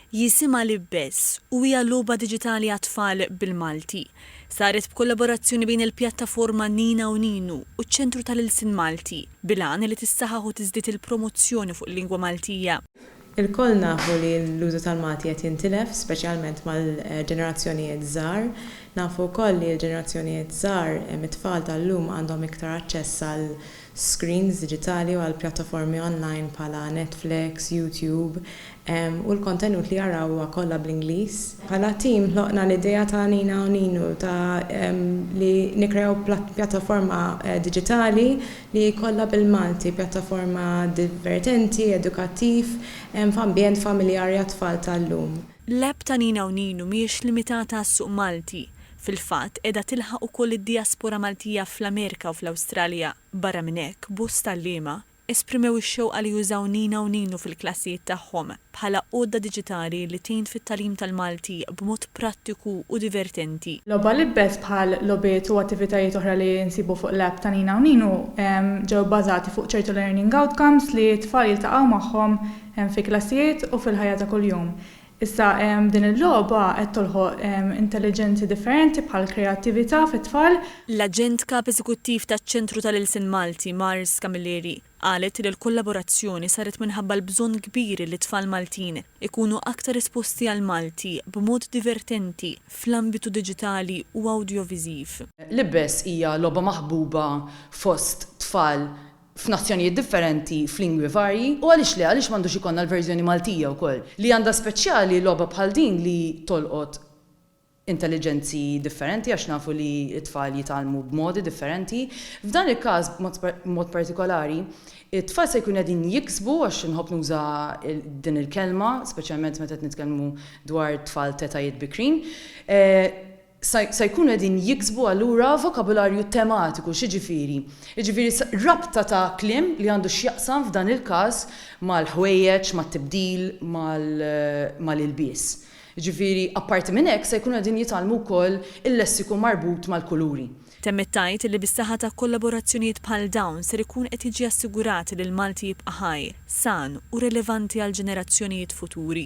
Jisimha Libbes u hija logħba diġitali għat-tfal bil-Malti. Saret b'kollaborazzjoni bejn il-pjattaforma Nina u Ninu u ċ-Ċentru tal-Ilsien Malti, bil-għan li tissaħaħ u tiżdied il-promozzjoni fuq il-lingwa Maltija. Ilkoll nafu li l-użu tal-Malti qed jintilef, speċjalment mal-ġenerazzjonijiet żgħar. Nafu wkoll li l-ġenerazzjonijiet żgħar, it-tfal tal-lum għandhom iktar aċċess għal screens diġitali u għal pjattaformi online bħala Netflix, YouTube, u l-kontenut li jaraw huwa kollha bl-Ingliż. Bħala tim ħloqna l-idea ta' Nina u Ninu ta' li nikkreaw pjattaforma diġitali li kollha bil-Malti, pjattaforma divertenti, edukattiv, f'ambjent familjari għat-tfal tal-lum. L-app ta' Nina u Ninu mhijiex limitata għas-suq Malti, Fil-fatt, qiegħda tilħaq ukoll lid-dijaspora Maltija fl-Amerika u fl-Awstralja. Barra minn hekk, bosta għalliema esprimew ix-xewqa li jużaw Nina u Ninu fil-klassijiet tagħhom bħala għodda diġitali li tgħin fit-tagħlim tal-Malti b'mod prattiku u divertenti. Logħba l-ibbes bħal logħbiet u attivitajiet oħra li nsibu fuq l-app ta' Nina u Ninu ġew bbażati fuq ċertu learning outcomes li t-tfal jiltaqgħu magħhom fi klassijiet u fil-ħajja ta' kuljum. Issa din il-logħba qed tolħoq intelliġenzi differenti bħall-kreattività fit-tfal. L-Aġent Kap Eżekuttiv taċ-Ċentru tal-Ilsien Malti, Mars Camilleri, qalet li l-kollaborazzjoni saret minħabba l-bżonn kbir li t-tfal Maltin ikunu aktar esposti għall-Malti b'mod divertenti fl-ambitu diġitali u awdjoviżiv. L-Ibbes hija logħba maħbuba fost tfal f'nazzjonijiet differenti, f'lingwi varji, u għaliex le, għaliex m'għandux ikollna l-verżjoni Maltija wkoll? Li għandha speċjali logħba bħal din li tolqot intelliġenzi differenti għax nafu li t-tfal jitgħallmu b'modi differenti. F'dan il-każ b'mod partikolari, it-tfal se jkunu qegħdin jiksbu, għax inħobb nuża din il-kelma, speċjalment meta qed nitkellmu dwar tfal t'etajiet bikrin, se jkunu qegħdin jiksbu allura vokabularju tematiku. X'jiġifieri? Jiġifieri rabta ta' kliem li għandu x'jaqsam f'dan il-każ mal-ħwejjeġ, mat-tibdil, mal-ilbies. Jiġifieri apparti minn hekk se jkunu qegħdin jitgħallmu wkoll il-lessiku marbut mal-kuluri. Temmet tgħid li bis-saħħa ta' kollaborazzjonijiet bħal dawn ser ikun qed jiġi assigurat li l-Malti jibqa' ħaj, san u relevanti għall-ġenerazzjonijiet futuri.